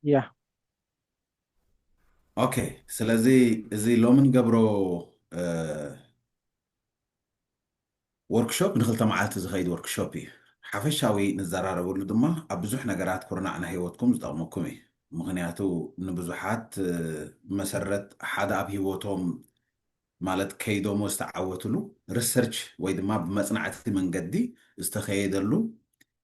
Yeah. ኦኬ ስለዚ እዚ ሎሚ ንገብሮ ወርክሾፕ ንክልተ መዓልቲ ዝኸይድ ወርክሾፕ እዩ ሓፈሻዊ ንዘራረበሉ ድማ ኣብ ብዙሕ ነገራት ኩርናዕ ናይ ህይወትኩም ዝጠቕመኩም እዩ ምክንያቱ ንብዙሓት መሰረት ሓደ ኣብ ህይወቶም ማለት ከይዶሞ ዝተዓወትሉ ሪሰርች ወይ ድማ ብመፅናዕቲ መንገዲ ዝተኸየደሉ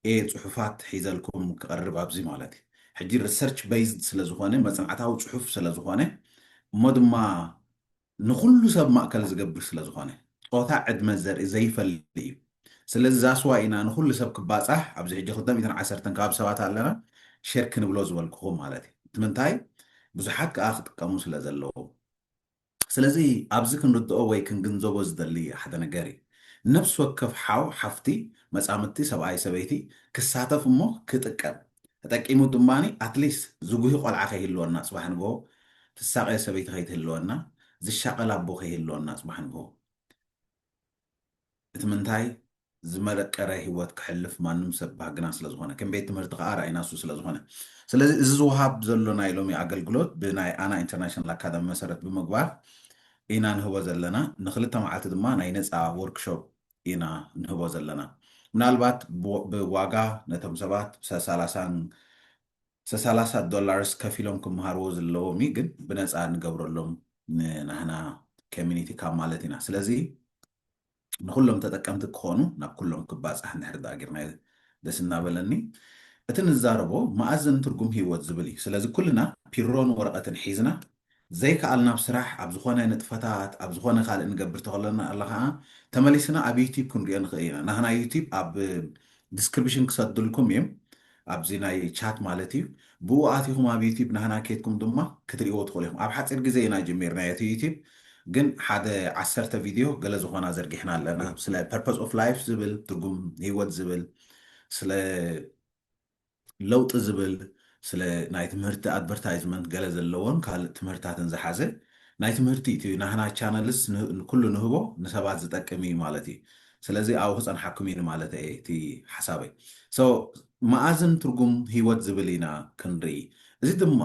እየ ጽሑፋት ሒዘልኩም ክቐርብ ኣብዚ ማለት እዩ። ሕጂ ሪሰርች በይዝድ ስለ ዝኾነ መጽናዕታዊ ጽሑፍ ስለ ዝኾነ እሞ ድማ ንኹሉ ሰብ ማእከል ዝገብር ስለ ዝኾነ ጾታ ዕድመ ዘርኢ ዘይፈሊ እዩ። ስለዚ ዛስ ዋይ ኢና ንኹሉ ሰብ ክባጻሕ ኣብዚ ሕጂ ክልተ ሚእትን ዓሰርተን ከባቢ ሰባት ኣለና ሼር ክንብሎ ዝበልኩኹም ማለት እዩ። እቲ ምንታይ ብዙሓት ከኣ ክጥቀሙ ስለ ዘለዎም። ስለዚ ኣብዚ ክንርድኦ ወይ ክንግንዘቦ ዝደሊ ሓደ ነገር እዩ። ነፍሲ ወከፍ ሓው፣ ሓፍቲ፣ መጻምድቲ፣ ሰብኣይ፣ ሰበይቲ፣ ክሳተፍ እሞ ክጥቀም፣ ተጠቂሙ ድማ ኣት ሊስት ዝጉሂ ቆልዓ ከይህልወና ጽባሕ ንግሆ፣ ትሳቐ ሰበይቲ ከይትህልወና፣ ዝሻቐል ኣቦ ከይህልወና ጽባሕ ንግሆ። እቲ ምንታይ ዝመረቀረ ሂወት ክሕልፍ ማንም ሰብ ባህግና ስለ ዝኾነ ከም ቤት ትምህርቲ ከኣ ራኢና እሱ ስለ ዝኾነ ስለዚ እዚ ዝውሃብ ዘሎ ናይ ሎሚ ኣገልግሎት ብናይ ኣና ኢንተርናሽናል ኣካዳሚ መሰረት ብምግባር ኢና ንህቦ ዘለና ንክልተ መዓልቲ ድማ ናይ ነፃ ወርክሾፕ ኢና ንህቦ ዘለና ምናልባት ብዋጋ ነቶም ሰባት ሰላሳን ሰሳላሳ ዶላርስ ከፊሎም ክምሃርዎ ዝለዎም እዩ ግን ብነፃ ንገብረሎም ንናህና ከሚኒቲ ካብ ማለት ኢና ስለዚ ንኩሎም ተጠቀምቲ ክኾኑ ናብ ኩሎም ክባፃሕ እንድሕር ዳኣ ጌርናዮ ደስ እናበለኒ እቲ ንዛረቦ መኣዝን ትርጉም ህይወት ዝብል እዩ ስለዚ ኩልና ፒሮን ወረቀትን ሒዝና ዘይክኣል ናብ ስራሕ ኣብ ዝኾነ ንጥፈታት ኣብ ዝኾነ ካልእ ንገብር ተኸለና ኣላ ከኣ ተመሊስና ኣብ ዩቲብ ክንሪኦ ንኽእል ኢና ናህና ዩቲብ ኣብ ድስክርብሽን ክሰድልኩም እዬም ኣብዚ ናይ ቻት ማለት እዩ ብኡ ኣቲኹም ኣብ ዩቲብ ናህና ኬድኩም ድማ ክትሪእዎ ትኽእሉ ኢኹም ኣብ ሓጺር ግዜ ኢና ጀሚርናዮ እቲ ዩቲብ ግን ሓደ ዓሰርተ ቪድዮ ገለ ዝኾና ዘርጊሕና ኣለና ስለ ፐርፐዝ ኦፍ ላይፍ ዝብል ትርጉም ህይወት ዝብል ስለ ለውጢ ዝብል ስለ ናይ ትምህርቲ ኣድቨርታይዝመንት ገለ ዘለዎን ካልእ ትምህርታትን ዝሓዘ ናይ ትምህርቲ እዩ እቲ ናህና ቻነልስ ኩሉ ንህቦ ንሰባት ዝጠቅም እዩ ማለት እዩ ስለዚ ኣብኡ ክጸንሓኩም እዩ ንማለተ እየ እቲ ሓሳበይ so መኣዝን ትርጉም ህይወት ዝብል ኢና ክንርኢ እዚ ድማ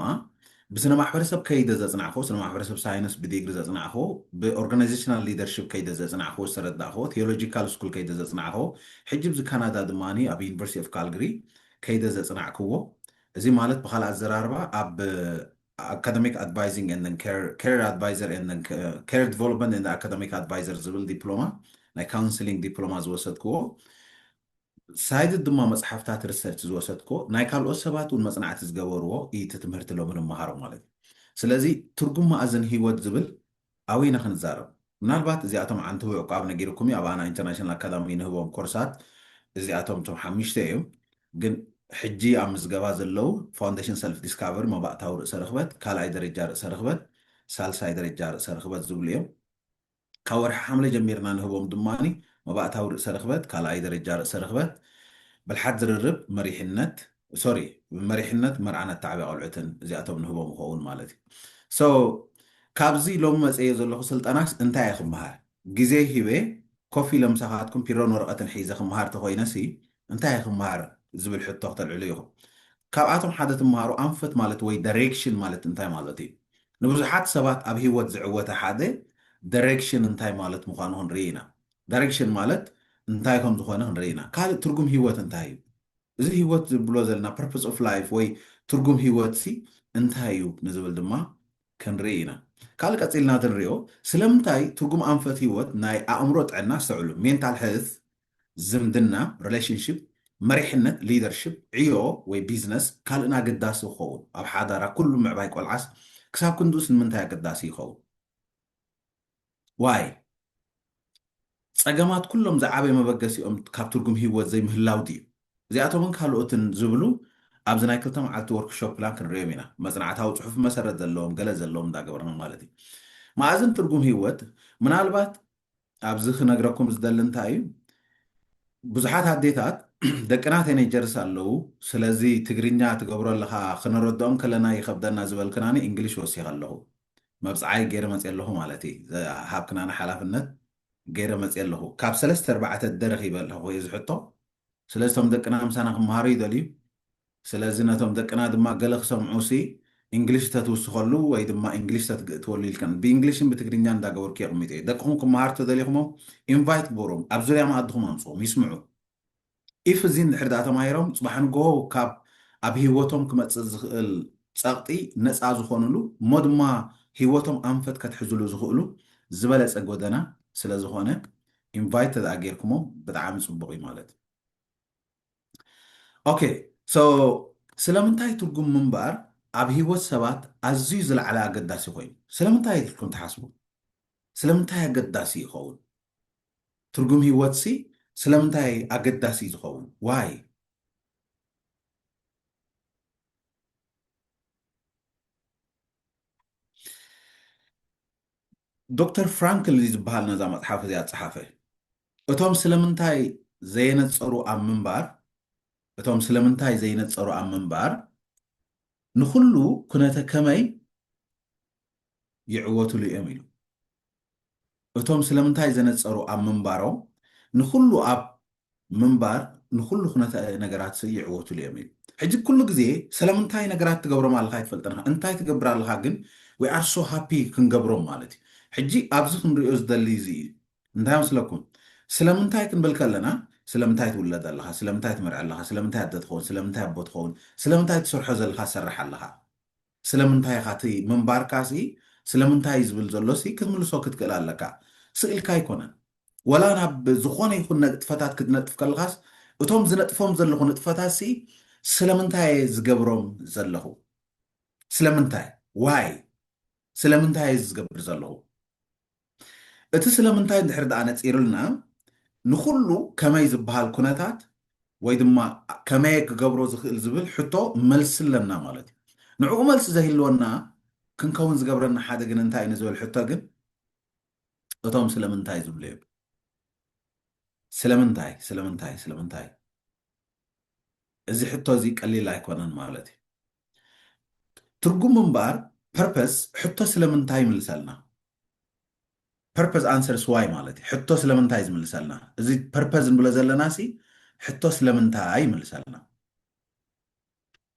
ብስነ ማሕበረሰብ ከይደ ዘፅናዕክዎ፣ ስነ ማሕበረሰብ ሳይንስ ብዲግሪ ዘፅናዕክዎ፣ ብኦርጋናይዜሽናል ሊደርሺፕ ከይደ ዘፅናዕክዎ ዝተረዳእክዎ፣ ቲዮሎጂካል ስኩል ከይደ ዘፅናዕክዎ፣ ሕጂ ኣብዚ ካናዳ ድማ ኣብ ዩኒቨርሲቲ ኦፍ ካልግሪ ከይደ ዘፅናዕክዎ፣ እዚ ማለት ብኻልእ ኣዘራርባ ኣብ ኣካደሚክ ኣድቫይዚንግ ኤንድ ኬሪየር ኣድቫይዘር ኤንድ ኬሪየር ዲቨሎፕመንት ኤንድ ኣካደሚክ ኣድቫይዘር ዝብል ዲፕሎማ ናይ ካውንስሊንግ ዲፕሎማ ዝወሰድክዎ ሳይድድ ድማ መጽሓፍታት ርሰርች ዝወሰድክዎ ናይ ካልኦት ሰባት ውን መጽናዕቲ ዝገበርዎ ኢዩ እቲ ትምህርቲ ሎሚ ንመሃሮ ማለት ኢዩ ስለዚ ትርጉም ማእዝን ሂወት ዝብል ኣበይ ኢና ክንዛረብ ምናልባት እዚኣቶም ዓንተቦ ዕቋብ ነጊርኩም ኢዩ ኣብ ኣና ኢንተርናሽናል ኣካዳሚ ንህቦም ኮርሳት እዚኣቶም እቶም ሓምሽተ ኢዮም ግን ሕጂ ኣብ ምዝገባ ዘለው ፋውንደሽን ሰልፍ ዲስካቨሪ መባእታዊ ርእሰ ርኽበት ካልኣይ ደረጃ ርእሰ ርኽበት ሳልሳይ ደረጃ ርእሰ ርኽበት ዝብሉ ኢዮም ካብ ወርሒ ሓምለ ጀሚርና ንህቦም ድማ መባእታዊ ርእሰ ርኽበት፣ ካልኣይ ደረጃ ርእሰ ርኽበት፣ ብልሓት ዝርርብ፣ መሪሕነት፣ ሶሪ መሪሕነት መርዓን ኣተዓብያ ቆልዑትን እዚኣቶም ንህቦም ይኸውን ማለት እዩ። so ካብዚ ሎሚ መጸዮ ዘለኹ ስልጠናስ እንታይ እየ ክመሃር? ግዜይ ሂበ ኮፍ ኢለ ምሳኻትኩም ፒሮን ወረቐትን ሒዘ ክመሃር ተኾይነሲ እንታይ ክመሃር ዝብል ሕቶ ክተልዕሉ ኢኹም። ካብኣቶም ሓደ ትመሃሩ ኣንፈት ማለት ወይ ደሬክሽን ማለት እንታይ ማለት እዩ። ንብዙሓት ሰባት ኣብ ህይወት ዝዕወተ ሓደ ደሬክሽን እንታይ ማለት ምዃኑ ክንርኢ ኢና። ደሬክሽን ማለት እንታይ ከም ዝኾነ ክንርኢ ኢና። ካልእ ትርጉም ህይወት እንታይ እዩ። እዚ ህይወት ዝብሎ ዘለና ፐርፐስ ኦፍ ላይፍ ወይ ትርጉም ህይወትሲ እንታይ እዩ ንዝብል ድማ ክንርኢ ኢና። ካልእ ቀጺልና እቲ ንሪኦ ስለምንታይ ትርጉም ኣንፈት ህይወት ናይ ኣእምሮ ጥዕና ኣስተውዕሉ፣ ሜንታል ሄልዝ፣ ዝምድና፣ Relationship፣ መሪሕነት፣ Leadership፣ ዕዮ ወይ ቢዝነስ፣ ካልእን ኣገዳሲ ክኸውን፣ ኣብ ሓዳራ ኩሉ ምዕባይ ቆልዓስ ክሳብ ክንድኡስ ንምንታይ ኣገዳሲ ይኸውን? Why? ጸገማት ኩሎም ዝዓበየ መበገሲኦም ካብ ትርጉም ህይወት ዘይምህላው ድዩ? እዚኣቶምን ካልኦትን ዝብሉ ኣብዚ ናይ ክልተ መዓልቲ ወርክሾፕ ፕላን ክንርእዮም ኢና፣ መጽናዕታዊ ጽሑፍ መሰረት ዘለዎም ገለ ዘለዎም እንዳገበርና ማለት እዩ። መኣዝን ትርጉም ህይወት ምናልባት ኣብዚ ክነግረኩም ዝደሊ እንታይ እዩ ብዙሓት ኣዴታት ደቅና ቴኔጀርስ ኣለዉ ስለዚ ትግርኛ ትገብሮ ኣለኻ ክነረድኦም ከለና ይኸብደና ዝበልክናኒ እንግሊሽ ወሲኸ ኣለኹ መብፅዓይ ገይረ መፅ ኣለኹ ማለት እዩ ዝሃብክናኒ ሓላፍነት ገይረ መፅ ኣለኹ ካብ ሰለስተ ኣርባዕተ ደረኺበ ኣለኹ እዚ ሕቶ ስለዚ ቶም ደቅና ምሳና ክመሃሩ ይደልዩ ስለዚ ነቶም ደቅና ድማ ገለ ክሰምዑሲ ኢንግሊሽ ተትውስኸሉ ወይ ድማ ኢንግሊሽ ተትግእትወሉ ኢልክን ብኢንግሊሽን ብትግርኛን እንዳገበርኩ የቕሚጠዮ። ደቅኹም ክመሃሩ ተደሊኹሞም ኢንቫይት ግበሩዎም ኣብ ዙርያ መኣድኹም ኣምጽኡዎም ይስምዑ። ኢፍ እዚ እንድሕር ድኣ ተማሂሮም ጽባሕ ንግሆ ካብ ኣብ ሂወቶም ክመጽእ ዝኽእል ጸቕጢ ነጻ ዝኾኑሉ እሞ ድማ ሂወቶም ኣንፈት ከትሕዙሉ ዝኽእሉ ዝበለጸ ጎደና ስለዝኾነ ኢንቫይት ተድኣ ጌርኩሞም ብጣዕሚ ጽቡቕ እዩ ማለት ኦኬ ሶ ስለምንታይ ትርጉም ምንባር ኣብ ሂወት ሰባት ኣዝዩ ዝለዓለ ኣገዳሲ ኮይኑ ስለምንታይ ኢልኩም ትሓስቡ ስለምንታይ ኣገዳሲ ይኸውን ትርጉም ሂወት ሲ ስለምንታይ ኣገዳሲ ዝኸውን ዋይ ዶክተር ፍራንክል እዚ ዝበሃል ነዛ መጽሓፍ እዚኣ ዝጸሓፈ፣ እቶም ስለምንታይ ዘየነጸሩ ኣብ ምንባር፣ እቶም ስለምንታይ ዘይነጸሩ ኣብ ምንባር፣ ንኹሉ ኩነተ ከመይ ይዕወትሉ እዮም ኢሉ። እቶም ስለምንታይ ዘነጸሩ ኣብ ምንባሮም፣ ንኹሉ ኣብ ምንባር ንኹሉ ኩነተ ነገራትሰ ይዕወቱሉ እዮም ኢሉ። ሕጂ ኩሉ ግዜ ሰለምንታይ ነገራት ትገብሮም ኣለኻ ኣይትፈልጥን ኢኻ፣ እንታይ ትገብር ኣለኻ ግን we are so happy ክንገብሮም ማለት እዩ። ሕጂ ኣብዚ ክንሪኦ ዝደሊ እዚ እዩ። እንታይ መስለኩም ስለምንታይ ክንብል ከለና ስለምንታይ ትውለድ ኣለኻ፣ ስለምንታይ ትመርዕ ኣለኻ፣ ስለምንታይ ኣደ ትኸውን፣ ስለምንታይ ኣቦ ትኸውን፣ ስለምንታይ ትሰርሖ ዘለኻ ትሰርሕ ኣለኻ። ስለምንታይ ኢኻ እቲ ምንባርካ ሲ ስለምንታይ ዝብል ዘሎ ሲ ክትምልሶ ክትክእል ኣለካ ስእልካ ኣይኮነን ወላ ናብ ዝኾነ ይኹን ነጥፈታት ክትነጥፍ ከለኻስ እቶም ዝነጥፎም ዘለኹ ንጥፈታት ሲ ስለምንታይ እየ ዝገብሮም ዘለኹ ስለምንታይ ዋይ ስለምንታይ እየ ዝገብር ዘለኹ እቲ ስለምንታይ እንድሕሪ ደኣ ነጺርልና ንኹሉ ከመይ ዝበሃል ኩነታት ወይ ድማ ከመየ ክገብሮ ዝኽእል ዝብል ሕቶ መልሲ ኣለና ማለት እዩ። ንዕኡ መልሲ ዘይህልወና ክንከውን ዝገብረና ሓደ ግን እንታይ እዩ ንዝብል ሕቶ ግን እቶም ስለምንታይ ዝብሉ እዮም። ስለምንታይ ስለምንታይ ስለምንታይ እዚ ሕቶ እዚ ቀሊል ኣይኮነን ማለት እዩ ትርጉም እምበኣር ፐርፐስ ሕቶ ስለምንታይ ይምልሰልና Purpose Answers Why ማለት እዩ ሕቶ ስለምንታይ ዝምልሰልና እዚ Purpose ንብሎ ዘለና ሲ ሕቶ ስለምንታይ ይምልሰልና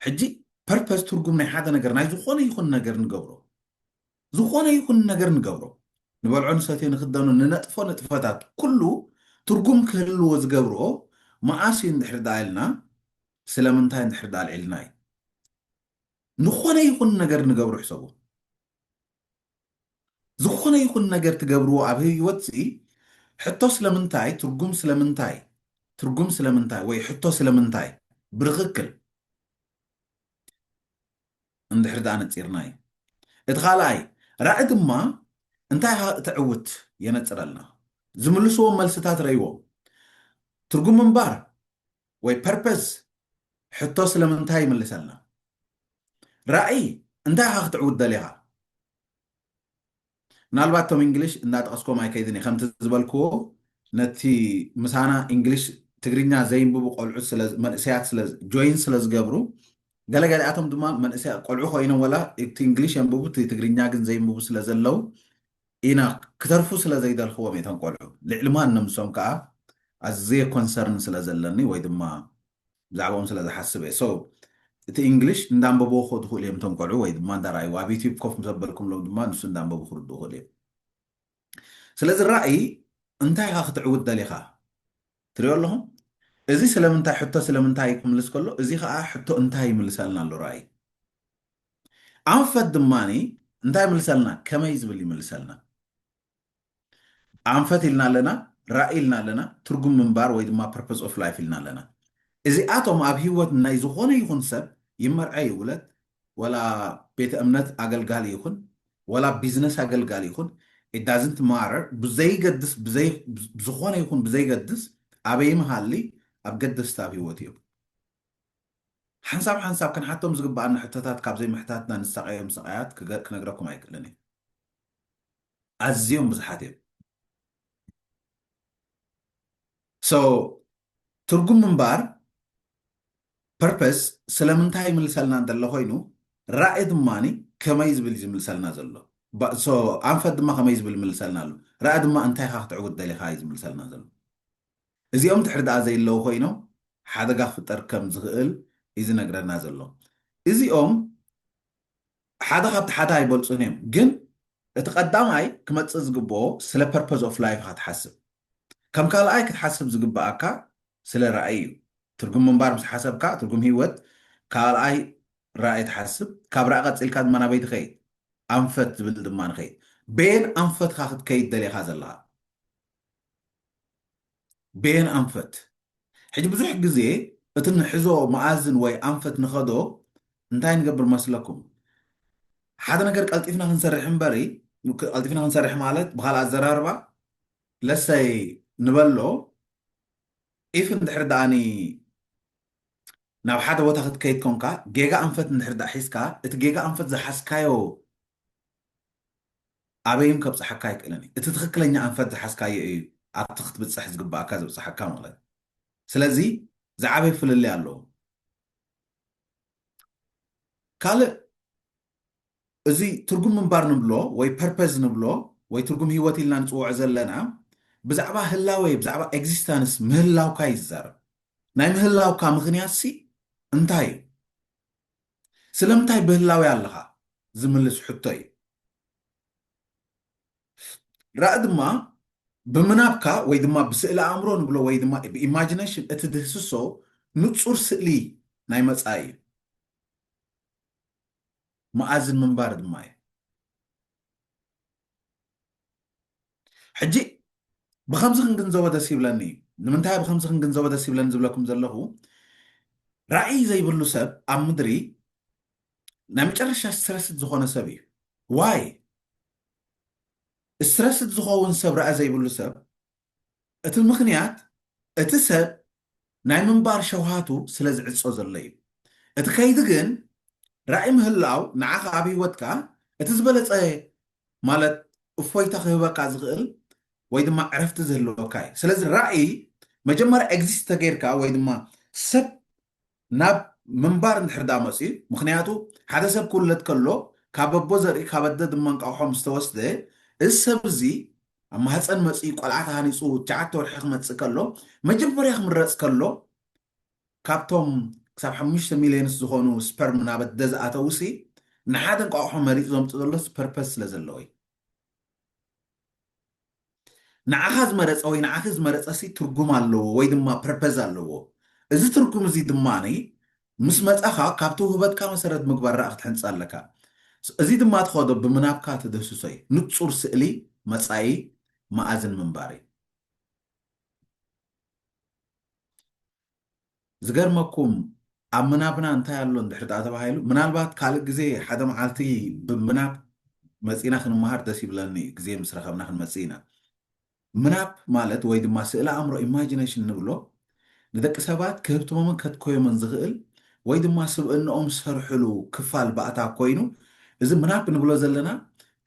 ሕጂ Purpose ትርጉም ናይ ሓደ ነገር ናይ ዝኾነ ይኹን ነገር ንገብሮ ዝኾነ ይኹን ነገር ንገብሮ ንበልዖ ንሰትዮ ንክደኖ ንነጥፎ ንጥፈታት ኩሉ ትርጉም ክህልዎ ዝገብርኦ መኣስ እዩ እንድሕር ደኣ ኢልና ስለምንታይ እንድሕር ደኣ ኣልዒልና እዩ ንኾነ ይኹን ነገር ንገብሮ ሕሰቡ ዝኾነ ይኹን ነገር ትገብርዎ ኣብ ህይወትሲ ሕቶ ስለምንታይ ትርጉም ስለምንታይ ትርጉም ስለምንታይ ወይ ሕቶ ስለምንታይ ብርኽክል እንድሕር ደኣ ነጺርናዩ እቲ ካልኣይ ራዒ ድማ እንታይ ኢኻ እተዕውት የነጽረልና ዝምልስዎም መልስታት ረይዎም ትርጉም ምንባር ወይ ፐርፐዝ ሕቶ ስለምንታይ ይምልሰልና ራእይ እንታይ ኢኻ ክትዕውት ደሊኻ ምናልባት ቶም እንግሊሽ እንዳጠቐስኮም ኣይከይድን እየ ከምቲ ዝበልክዎ ነቲ ምሳና እንግሊሽ ትግርኛ ዘይንብቡ ቆልዑት መንእሰያት ስለ ጆይን ስለ ዝገብሩ ገለገሊኣቶም ድማ መንእሰያ ቆልዑ ኮይኖም ወላ እቲ እንግሊሽ የንብቡ እቲ ትግርኛ ግን ዘይንብቡ ስለ ዘለው ኢና ክተርፉ ስለ ዘይደልክዎም እቶም ቆልዑ ልዕሊ ማንም እሶም ከኣ ኣዝየ ኮንሰርን ስለ ዘለኒ ወይ ድማ ብዛዕብኦም ስለ ዝሓስብ እየ so እቲ ኢንግሊሽ እንዳንበብዎ ክኸዱ ይኽእሉ እዮም እቶም ቆልዑ ወይ ድማ እንዳረኣይዎ ኣብ ዩትዩብ ኮፍ ምስ ኣበልኩምሎም ድማ ንሱ እንዳንበቡ ክርድኡ ይኽእሉ እዮም ስለዚ ራእይ እንታይ ኢኻ ክትዕውት ደሊኻ ትሪኦ ኣለኹም እዚ ስለምንታይ ሕቶ ስለምንታይ ክምልስ ከሎ እዚ ከዓ ሕቶ እንታይ ይምልሰልና ኣሎ ራእይ ኣንፈት ድማ እንታይ ይምልሰልና ከመይ ዝብል ይምልሰልና ኣንፈት ኢልና ኣለና ራእይ ኢልና ኣለና ትርጉም ምንባር ወይ ድማ ፐርፐስ ኦፍ ላይፍ ኢልና ኣለና እዚኣቶም ኣብ ሂወት ናይ ዝኾነ ይኹን ሰብ ይመርዐ ይውለት ወላ ቤተ እምነት ኣገልጋሊ ይኹን ወላ ቢዝነስ ኣገልጋሊ ይኹን it doesn't matter ብዘይገድስ ብዘይ ዝኾነ ይኹን ብዘይገድስ ኣበይ ምሃሊ ኣብ ገደስቲ ኣብ ህይወት እዮም ሓንሳብ ሓንሳብ ክንሓቶም ዝግባኣና ሕቶታት ካብ ዘይምሕታትና ንሳቐዮም ስቓያት ክነግረኩም ኣይክእልን እዩ ኣዝዮም ብዙሓት እዮም ሶ ትርጉም ምንባር Purpose ስለምንታይ ይምልሰልና እንተሎ ኮይኑ ራኢ ድማ ከመይ ዝብል እዩ ዝምልሰልና ዘሎ ብ so ኣንፈት ድማ ከመይ ዝብል ይምልሰልና ኣሎ ራኢ ድማ እንታይ ኢኻ ክትዕውት ደሊኻ እዩ ዝምልሰልና ዘሎ እዚኦም ድሕሪ ደኣ ዘይለዉ ኮይኖም ሓደጋ ክፍጠር ከም ዝኽእል እዩ ዝነግረና ዘሎ እዚኦም ሓደ ካብቲ ሓደ ኣይበልጹን እዮም ግን እቲ ቀዳማይ ክመጽእ ዝግበኦ ስለ ፐርፐዝ ኦፍ ላይፍ ኢኻ ትሓስብ ከም ካልኣይ ክትሓስብ ዝግበኣካ ስለ ራእይ እዩ ትርጉም ምንባር ምስ ሓሰብካ ትርጉም ሂወት ካልኣይ ራእይ ትሓስብ ካብ ራእይ ቀጺልካ ድማ ናበይ ትኸይድ ኣንፈት ዝብል ድማ ንኸይድ በየን ኣንፈትኻ ክትከይድ ደሊኻ ዘለኻ ቤን ኣንፈት ሕጂ ብዙሕ ግዜ እቲ ንሕዞ መኣዝን ወይ ኣንፈት ንኸዶ እንታይ ንገብር መስለኩም ሓደ ነገር ቀልጢፍና ክንሰርሕ እምበሪ ቀልጢፍና ክንሰርሕ ማለት ብኻልእ ኣዘራርባ ለሰይ ንበሎ ኢፍ እንድሕር ደኣኒ ናብ ሓደ ቦታ ክትከይድ ኮንካ ጌጋ ኣንፈት እንድሕር ደኣ ሒዝካ እቲ ጌጋ ኣንፈት ዝሓዝካዮ ኣበይን ከብጽሓካ ኣይክእልን እዩ እቲ ትክክለኛ ኣንፈት ዝሓዝካዮ እዩ ኣብቲ ክትብጽሕ ዝግባኣካ ዘብጽሓካ ማለት እዩ ስለዚ ዝዓበየ ፍልልይ ኣለዎ ካልእ እዚ ትርጉም ምንባር ንብሎ ወይ ፐርፐዝ ንብሎ ወይ ትርጉም ህይወት ኢልና ንጽውዖ ዘለና ብዛዕባ ህላወ ብዛዕባ ኤግዚስታንስ ምህላውካ ይዛረብ ናይ ምህላውካ ምክንያት ሲ እንታይ እዩ ስለምንታይ ብህላዌ ኣለኻ ዝምልስ ሕቶ እዩ። ራኢ ድማ ብምናብካ ወይ ድማ ብስእሊ ኣእምሮ ንብሎ ወይ ድማ ብኢማጂነሽን እትድህስሶ ንጹር ስእሊ ናይ መጻኢ እዩ። መኣዝን ምንባር ድማ እዩ። ሕጂ ብከምዚ ክንግንዘቦ ደስ ይብለኒ እዩ ንምንታይ ብከምዚ ክንግንዘቦ ደስ ይብለኒ ዝብለኩም ዘለኹ ራእይ ዘይብሉ ሰብ ኣብ ምድሪ ናይ መጨረሻ ስትረስድ ዝኾነ ሰብ እዩ ዋይ ስትረስድ ዝኸውን ሰብ ራእይ ዘይብሉ ሰብ እቲ ምኽንያት እቲ ሰብ ናይ ምንባር ሸውሃቱ ስለ ዝዕጾ ዘሎ እዩ። እቲ ከይዲ ግን ራኢ ምህላው ንዓኻ ኣብ ህይወትካ እቲ ዝበለጸ ማለት እፎይታ ክህበካ ዝኽእል ወይ ድማ ዕረፍቲ ዝህልወካ እዩ። ስለዚ ራኢ መጀመርያ ኤግዚስት ተገይርካ ወይ ድማ ሰብ ናብ ምንባር እንድሕር ደኣ መጽዩ፣ ምኽንያቱ ሓደ ሰብ ክውለድ ከሎ ካብ ኣቦ ዘርኢ ካብ ኣደ ድማ እንቋቑሖ ምስ ተወስደ፣ እዚ ሰብ እዚ ኣብ ማህጸን መጽዩ ቆልዓ ተሃኒጹ ትሽዓተ ወርሒ ክመጽእ ከሎ፣ መጀመርያ ክምረጽ ከሎ ካብቶም ክሳብ ሓሙሽተ ሚልዮንስ ዝኾኑ ስፐርም ናብ ኣደ ዝኣተዉሲ ንሓደ እንቋቑሖ መሪጹ ዘምጽእ ዘሎስ ፐርፐዝ ስለ ዘለዎ እዩ። ንዓኻ ዝመረጸ ወይ ንዓኺ ዝመረጸሲ ትርጉም ኣለዎ ወይ ድማ ፐርፐዝ ኣለዎ። እዚ ትርጉም እዚ ድማ ምስ መጻኻ ካብ ተውህበትካ መሰረት ምግባር ራኢ ክትሕንጽ ኣለካ። እዚ ድማ ትኸዶ ብምናብካ ትድህስሶ እዩ። ንጹር ስእሊ መጻኢ መኣዝን ምንባር እዩ። ዝገርመኩም ኣብ ምናብና እንታይ ኣሎ እንድሕር ደኣ ተባሂሉ ምናልባት ካልእ ግዜ ሓደ መዓልቲ ብምናብ መጺእና ክንመሃር ደስ ይብለኒ እዩ ግዜ ምስ ረኸብና ክንመጽእ ኢና ምናብ ማለት ወይ ድማ ስእሊ ኣእምሮ ኢማጂነሽን ንብሎ ንደቂ ሰባት ክህብትሞምን ከትኮዮምን ዝኽእል ወይ ድማ ስብእንኦም ዝሰርሕሉ ክፋል ባእታ ኮይኑ እዚ ምናብ ንብሎ ዘለና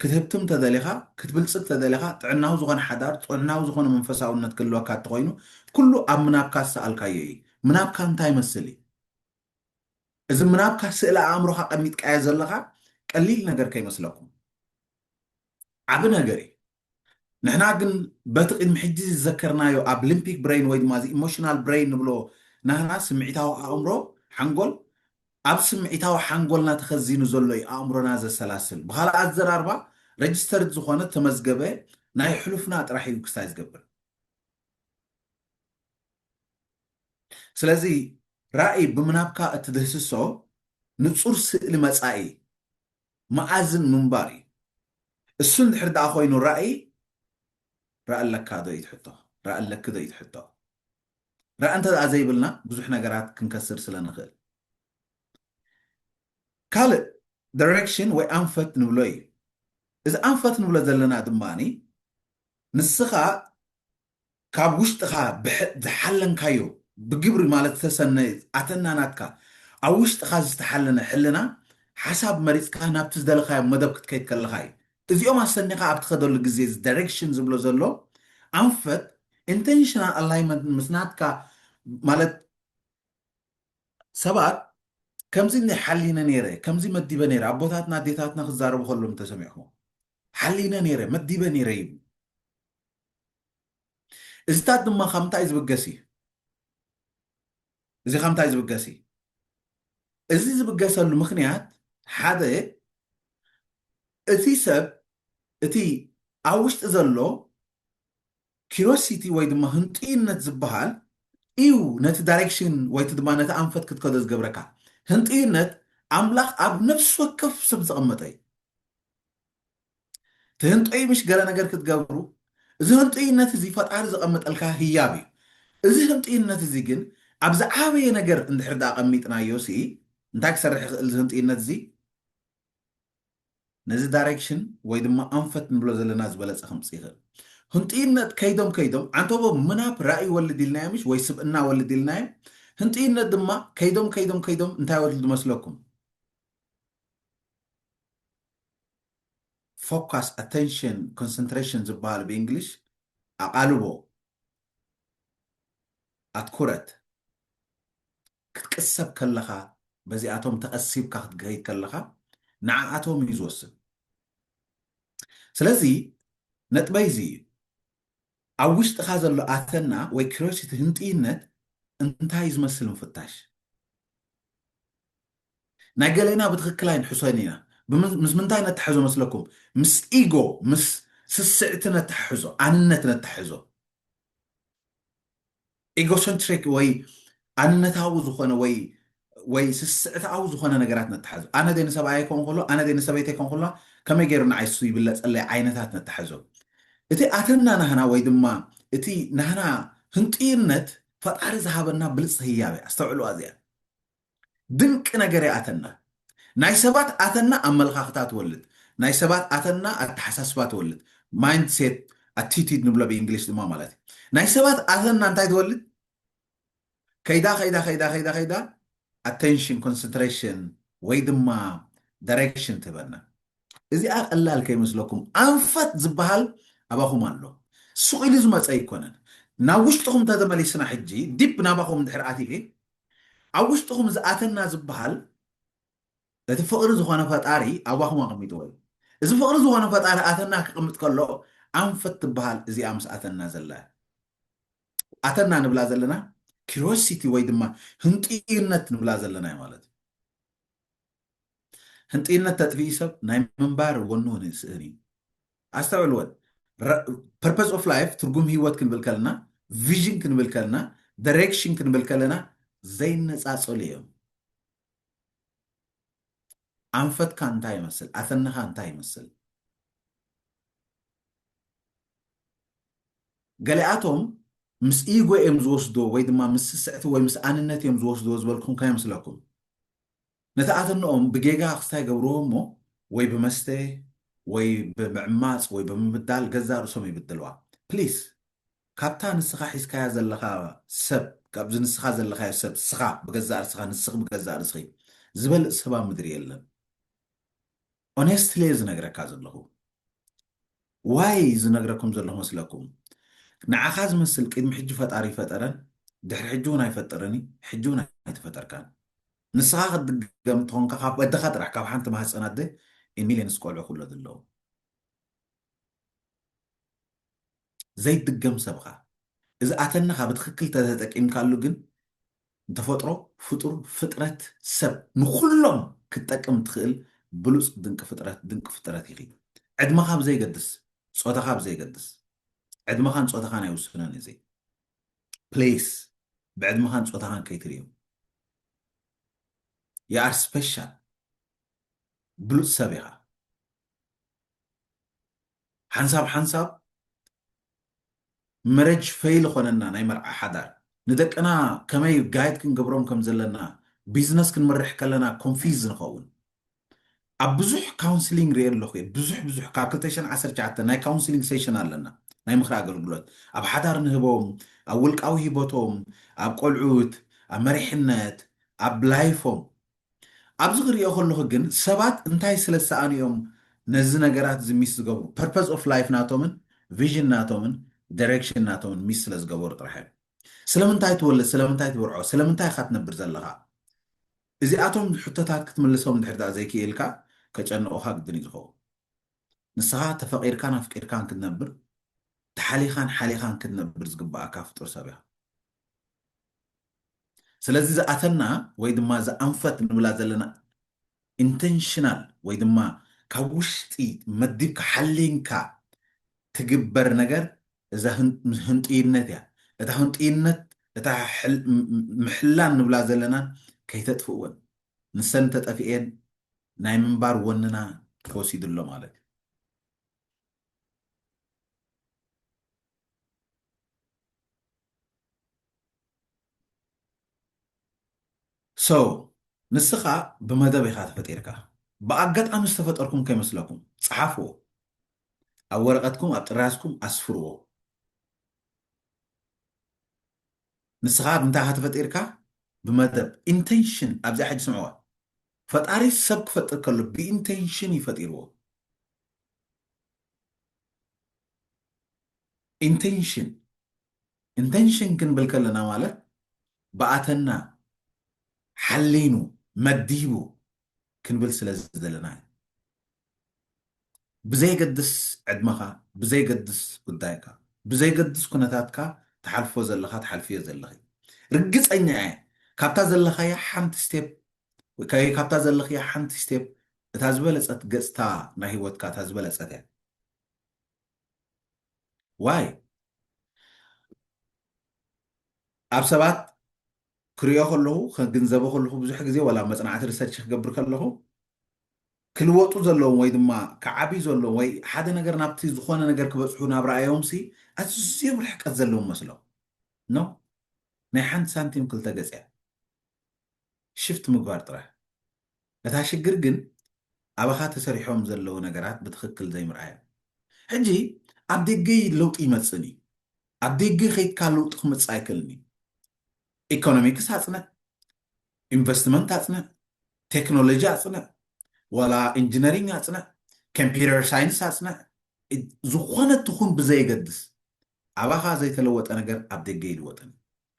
ክትህብትም ተደሊኻ፣ ክትብልጽግ ተደሊኻ፣ ጥዕናዊ ዝኾነ ሓዳር፣ ጥዑናዊ ዝኾነ መንፈሳውነት ክህልወካ እንተኾይኑ፣ ኩሉ ኣብ ምናብካ ዝሰኣልካዮ እዩ። ምናብካ እንታይ ይመስል እዩ? እዚ ምናብካ ስእሊ ኣእምሮኻ ቀሚጥካዮ ዘለኻ ቀሊል ነገር ከይመስለኩም። ዓቢ ነገር እዩ። ንሕና ግን በቲ ቅድሚ ሕጂ ዝዘከርናዮ ኣብ ሊምፒክ ብረይን ወይ ድማ እዚ ኢሞሽናል ብረይን ንብሎ ናህና ስምዒታዊ ኣእምሮ፣ ሓንጎል፣ ኣብ ስምዒታዊ ሓንጎልና ተኸዚኑ ዘሎ እዩ ኣእምሮና ዘሰላስል። ብኻልእ ኣዘራርባ ረጅስተርድ ዝኾነ፣ ተመዝገበ፣ ናይ ሕሉፍና ጥራሕ እዩ ክስታይ ዝገብር። ስለዚ ራኢ ብምናብካ እትድህስሶ ንጹር ስእሊ መጻኢ መኣዝን ምንባር እዩ። እሱ እንድሕር ደኣ ኮይኑ ራኢ ራኢ ኣለካ ዶ እዩ እቲ ሕቶ፣ ራኢ ኣለኪ ዶ እዩ እቲ ሕቶ። ራኢ እንተድኣ ዘይብልና ብዙሕ ነገራት ክንከስር ስለ ንኽእል። ካልእ ደረክሽን ወይ ኣንፈት ንብሎ እዩ። እዚ ኣንፈት ንብሎ ዘለና ድማ ንስኻ ካብ ውሽጥኻ ዝሓለንካዮ ብግብሪ ማለት ዝተሰነ ኣተና ናትካ ኣብ ውሽጥኻ ዝተሓለነ ሕልና ሓሳብ መሪጽካ ናብቲ ዝደለኻዮ መደብ ክትከይድ ከለኻ እዩ። እዚኦም ኣሰኒኻ ኣብ ትኸደሉ ግዜ እዚ ዳይሬክሽን ዝብሎ ዘሎ ኣንፈት ኢንተንሽናል ኣላይመንት ምስ ናትካ ማለት ሰባት ከምዚ እኒ ሓሊነ ነይረ ከምዚ መዲበ ነይረ ኣቦታትና ኣዴታትና ክዛረቡ ከሎም እንተሰሚዕኹም ሓሊነ ነይረ መዲበ ነይረ ይብሉ እዚታት ድማ ካብ እንታይ ዝብገስ እዩ እዚ ካብ እንታይ ዝብገስ እዩ? እዚ ዝብገሰሉ ምኽንያት ሓደ እቲ ሰብ እቲ ኣብ ውሽጢ ዘሎ ኪሮሲቲ ወይ ድማ ህንጡይነት ዝበሃል እዩ ነቲ ዳይሬክሽን ወይ ድማ ነቲ ኣንፈት ክትከዶ ዝገብረካ። ህንጡይነት ኣምላኽ ኣብ ነፍሲ ወከፍ ሰብ ዘቐመጠ እዩ። ትህንጦዩ ምሽ ገለ ነገር ክትገብሩ እዚ ህንጡይነት እዚ ፈጣሪ ዘቐምጠልካ ህያብ እዩ እዚ ህንጡይነት እዚ ግን ኣብ ዝዓበየ ነገር እንድሕር ዳኣ ቀሚጥናዮ ሲ እንታይ ክሰርሕ ይኽእል እዚ ህንጡይነት እዚ ነዚ ዳይሬክሽን ወይ ድማ ኣንፈት ንብሎ ዘለና ዝበለፀ ከምፅ ይኽእል ህንጡይነት ከይዶም ከይዶም ዓንተቦ ምናብ ራእይ ይወልድ ኢልናዮ ምሽ ወይ ስብእና ወልድ ኢልናዮ ህንጡይነት ድማ ከይዶም ከይዶም ከይዶም እንታይ ወልድ መስለኩም ፎካስ ኣተንሽን ኮንሰንትሬሽን ዝበሃሉ ብእንግሊሽ ኣቓልቦ ኣትኩረት ክትቅሰብ ከለኻ በዚኣቶም ተቐሲብካ ክትገይድ ከለኻ ንዓኣቶም እዩ ዝወስን ስለዚ ነጥበይ እዚ እዩ ኣብ ውሽጥኻ ዘሎ ኣተና ወይ ክሪዮሲቲ ህንጥይነት እንታይ ዝመስል ምፍታሽ ናይ ገሌና ብትክክል ኣይንሕሶን ኢና ምስ ምንታይ ነታሕዞ መስለኩም ምስ ኢጎ ምስ ስስዕቲ ነታሕሕዞ ኣንነት ነታሕዞ ኢጎሰንትሪክ ወይ ኣንነታዊ ዝኾነ ወይ ወይ ስስዕታዊ ዝኾነ ነገራት ነታሕዞ ኣነ ደይ ንሰብኣየ ይከውን ከሎ ኣነ ደይ ንሰበይተ ይከውን ከሎ ከመይ ገይሩ ንዓይ ሱ ይብለጸለይ ዓይነታት ነታሕዞ እቲ ኣተና ናህና ወይ ድማ እቲ ናህና ህንጥዩነት ፈጣሪ ዝሃበና ብልጽቲ ህያብ እያ ኣስተውዕሉዋ እዚኣ ድንቂ ነገር እያ ኣተና። ናይ ሰባት ኣተና ኣመለኻኽታ ትወልድ። ናይ ሰባት ኣተና ኣተሓሳስባ ትወልድ። Mindset Attitude ንብሎ ብእንግሊሽ ድማ ማለት እዩ። ናይ ሰባት ኣተና እንታይ ትወልድ? ከይዳ ከይዳ ከይዳ ከይዳ ከይዳ ኣቴንሽን ኮንሰንትሬሽን ወይ ድማ ዳይሬክሽን ትህበና። እዚኣ ቀላል ከይመስለኩም ኣንፈት ዝበሃል ኣባኹም ኣሎ። ሱቕ ኢሉ ዝመፀ ኣይኮነን። ናብ ውሽጥኹም ተተመሊስና ሕጂ ዲፕ ናባኹም እንድሕር ኣቲየ ኣብ ውሽጥኹም ዝኣተና ዝበሃል እቲ ፍቕሪ ዝኾነ ፈጣሪ ኣባኹም ኣቐሚጥዎ እዩ። እዚ ፍቕሪ ዝኾነ ፈጣሪ ኣተና ክቕምጥ ከሎ ኣንፈት ትበሃል እዚኣ ምስ ኣተና ዘላ ኣተና ንብላ ዘለና ኪሮሲቲ ወይ ድማ ህንጥዩነት ንብላ ዘለና እዩ ማለት እዩ። ህንጥይነት ተጥፍኢ ሰብ ናይ ምንባር ወኑ ውን ይስእን እዩ ኣስተውዕል ወን ፐርፐዝ ኦፍ ላይፍ ትርጉም ህይወት ክንብል ከለና ቪዥን ክንብል ከለና ዳይሬክሽን ክንብል ከለና ዘይነፃፀሉ እዮም ኣንፈትካ እንታይ ይመስል ኣተነኻ እንታይ ይመስል ገሊኣቶም ምስ ኢጎ እዮም ዝወስድዎ ወይ ድማ ምስ ስስዕቲ ወይ ምስ ኣንነት እዮም ዝወስድዎ ዝበልኩም ከየምስለኩም። ነቲ ኣተነኦም ብጌጋ ክስታይ ይገብርዎ እሞ ወይ ብመስተ ወይ ብምዕማጽ ወይ ብምብዳል ገዛእ ርእሶም ይብድልዋ። ፕሊስ ካብታ ንስኻ ሒዝካያ ዘለኻ ሰብ ካብዚ ንስኻ ዘለኻዮ ሰብ ስኻ ብገዛእ ርስኻ ንስኺ ብገዛእ ርስኺ ዝበልጽ ሰብ ኣብ ምድሪ የለን። ኦነስትሊ እየ ዝነግረካ ዘለኹ ዋይ ዝነግረኩም ዘለኹ መስለኩም ንዓኻ ዝመስል ቅድሚ ሕጂ ፈጣሪ ይፈጠረን ድሕሪ ሕጂ እውን ኣይፈጠረን እዩ ሕጂ እውን ኣይተፈጠርካን ንስኻ ክትድገም እትኾንካ ካብ ወድኻ ጥራሕ ካብ ሓንቲ ማህፀናት ደ ሚሊየንስ ቆልዑ ክውለዱ ኣለዎም ዘይድገም ሰብ እኻ እዚ ኣተነኻ ብትኽክል ተዘጠቂምካሉ ግን ንተፈጥሮ ፍጡር ፍጥረት ሰብ ንኹሎም ክትጠቅም ትኽእል ብሉፅ ድንቂ ፍጥረት ድንቂ ፍጥረት ኢኺ ዕድመኻ ብዘይገድስ ፆታኻ ብዘይገድስ ዕድመኻን ፆታኻን ኣይውስነን እዚ ፕሌስ ብዕድመኻን ፆታኻን ከይትርእዮ የኣር ስፔሻል ብሉፅ ሰብ ኢኻ ሓንሳብ ሓንሳብ መረጅ ፈይል ኾነና ናይ መርዓ ሓዳር ንደቅና ከመይ ጋይድ ክንገብሮም ከም ዘለና ቢዝነስ ክንምርሕ ከለና ኮንፊዝ ንኸውን ኣብ ብዙሕ ካውንስሊንግ ርኤ ኣለኹ እየ ብዙሕ ብዙሕ ካብ 219 ናይ ካውንስሊንግ ሴሽን ኣለና ናይ ምኽሪ ኣገልግሎት ኣብ ሓዳር ንህቦም ኣብ ውልቃዊ ሂቦቶም ኣብ ቆልዑት ኣብ መሪሕነት ኣብ ላይፎም ኣብዚ ክሪኦ ከለኩ ግን ሰባት እንታይ ስለ ዝሰኣኑ እዮም ነዚ ነገራት እዚ ሚስ ዝገብሩ ፐርፐዝ ኦፍ ላይፍ ናቶምን ቪዥን ናቶምን ደሬክሽን ናቶምን ሚስ ስለ ዝገበሩ ጥራሕ እዮም ስለምንታይ ትወልድ ስለምንታይ ትብርዖ ስለምንታይ ኢካ ትነብር ዘለካ እዚኣቶም ሕቶታት ክትምልሶም እንድሕር ደኣ ዘይክኢልካ ከጨንቑኻ ግድን እዩ ዝኸውን ንስኻ ተፈቒርካን ኣፍቂርካን ክትነብር ተሓሊኻን ሓሊኻን ክትነብር ዝግባኣካ ፍጡር ሰብ ኢኻ ስለዚ ዝኣተና ወይ ድማ እዛ ኣንፈት ንብላ ዘለና ኢንተንሽናል ወይ ድማ ካብ ውሽጢ መዲብካ ሓሊንካ ትግበር ነገር እዛ ህንጡይነት እያ። እታ ህንጡይነት እታ ምሕላን ንብላ ዘለና ከይተጥፍእወን ንሰን እንተጠፍኤን ናይ ምንባር ወንና ተወሲዱ ኣሎ ማለት እዩ። So ንስኻ ብመደብ ኢኻ ተፈጢርካ። ብኣጋጣሚ ዝተፈጠርኩም ከይመስለኩም። ጸሓፍዎ። ኣብ ወረቐትኩም ኣብ ጥራዝኩም ኣስፍርዎ። ንስኻ ብምንታይ ኢኻ ተፈጢርካ? ብመደብ። ኢንተንሽን ኣብዚኣ ሕጂ ስምዕዋ። ፈጣሪ ሰብ ክፈጥር ከሎ ብኢንተንሽን እዩ ፈጢርዎ። ኢንተንሽን ኢንተንሽን ክንብል ከለና ማለት ብኣተና ሓሊኑ መዲቡ ክንብል ስለ ዝደለና እዩ ብዘይገድስ ዕድመኻ ብዘይገድስ ጉዳይካ ብዘይገድስ ኩነታትካ ትሓልፎ ዘለኻ ትሓልፍዮ ዘለኺ ርግፀኛ እየ ካብታ ዘለኻያ ሓንቲ ስቴፕ ወይ ከኣ ካብታ ዘለኽያ ሓንቲ ስቴፕ እታ ዝበለጸት ገጽታ ናይ ሂወትካ እታ ዝበለጸት እያ why ኣብ ሰባት ክሪኦ ከለኹ ከግንዘቦ ከለኹ ብዙሕ ግዜ ወላ መጽናዕቲ ሪሰርች ክገብር ከለኹ ክልወጡ ዘለዎም ወይ ድማ ክዓብዩ ዘለዎም ወይ ሓደ ነገር ናብቲ ዝኾነ ነገር ክበጽሑ ናብ ረኣዮምሲ ኣዝዮም ርሕቀት ዘለዎም መስሎም ኖ ናይ ሓንቲ ሳንቲም ክልተ ገጽ እያ ሽፍት ምግባር ጥራሕ። እታ ሽግር ግን ኣባኻ ተሰሪሖም ዘለዉ ነገራት ብትኽክል ዘይምርኣዮም። ሕጂ ኣብ ደገ ለውጢ ይመጽእን እዩ። ኣብ ደገ ከይትካ ለውጢ ክመጽእ ኣይክእልን እዩ። ኢኮኖሚክስ ኣጽንዕ፣ ኢንቨስትመንት ኣጽንዕ፣ ቴክኖሎጂ ኣጽንዕ፣ ዋላ ኢንጂነሪንግ ኣጽንዕ፣ ኮምፒውተር ሳይንስ ኣጽንዕ፣ ዝኾነ ትኹን ብዘየገድስ ኣባኻ ዘይተለወጠ ነገር ኣብ ደገ ይልወጥን